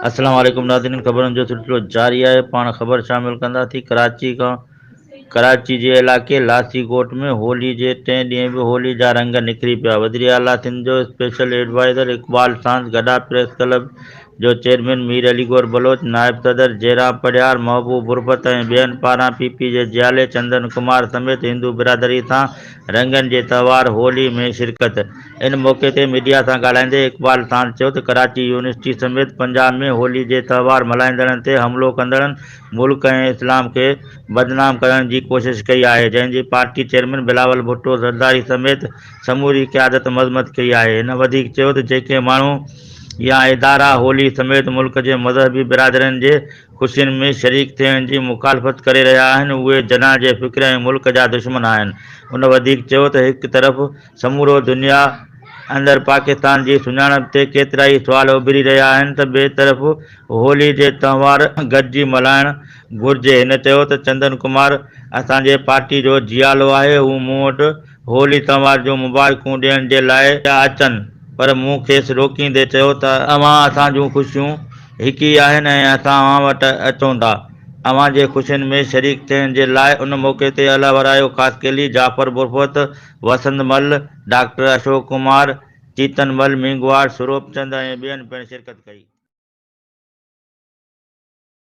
السلام عليڪم ناظرين خبرن جو سلسلو جاري آهي پاڻ خبر شامل ڪندا ٿي ڪراچي کان ڪراچي جي علائقي لاسي ڳوٺ ۾ هولي جي ٽئين ڏينهن به هولي جا رنگ نکري پيا وزير اعليٰ سنڌ جو اسپيشل ايڊوائزر اقبال ساند گڏا پريس ڪلب جو چيئرمين مير علي گور بلوچ نائب صدر جيران پڙهيار محبوب غربت ۽ ٻين پاران پي پي جي جيالي چندن ڪمار سميت هندو برادري سان رنگن جي تهوار هولي ۾ شرڪت ان موقعي تي ميڊيا سان ڳالهائيندي اقبال ساند چيو ته ڪراچي يونيورسٽي سميت پنجاب ۾ هولي جي تهوار ملهائيندڙن تي حملو ڪندڙن ملڪ ۽ اسلام کي بدنام ڪرڻ جي ڪوشش ڪئي آهي جنهن جي پارٽي چيئرمين بلاول ڀٽو زرداري سميت سموري قيادت مذمت ڪئي آهي هن وڌيڪ چيو ته جيڪي ماڻهو يا ادارا هولي سميت ملڪ جي مذهبي برادرين جي خوشين ۾ شريڪ ٿيڻ جي مخالفت ڪري رهيا آهن اهي جناح جي فڪر ۽ ملڪ جا دشمن آهن هن وڌيڪ چيو ته هڪ طرف سمورو دنيا اندر پاڪستان جي سڃاڻپ تي ڪيترائي سوال اڀري رهيا آهن ته ٻئي طرف هولي جي تهوار گڏجي ملهائڻ گهرجي هن چيو ته چندن ڪمار اسان جي پارٽي جو جيالو آهي هو مون وٽ هو ليتنوار جون مبارڪون ڏيڻ جي لاء پيا اچن، پر مون کيس روڪيندي چيو ته اوهان اسان جون خوشيون هڪ ئي آهن ۽ اسان اوهان وٽ اچون ٿا اوهان جي خوشين ۾ شريڪ ٿيڻ جي لاء ان موقعي تي الا ورايو خاصخيلي، جعفر بروهت، وسند مل، ڊاڪٽر اشوڪ ڪمار، چيتن مل، مينگهواڙ، سروپ چند ۽ ٻين پڻ شرڪت ڪئي.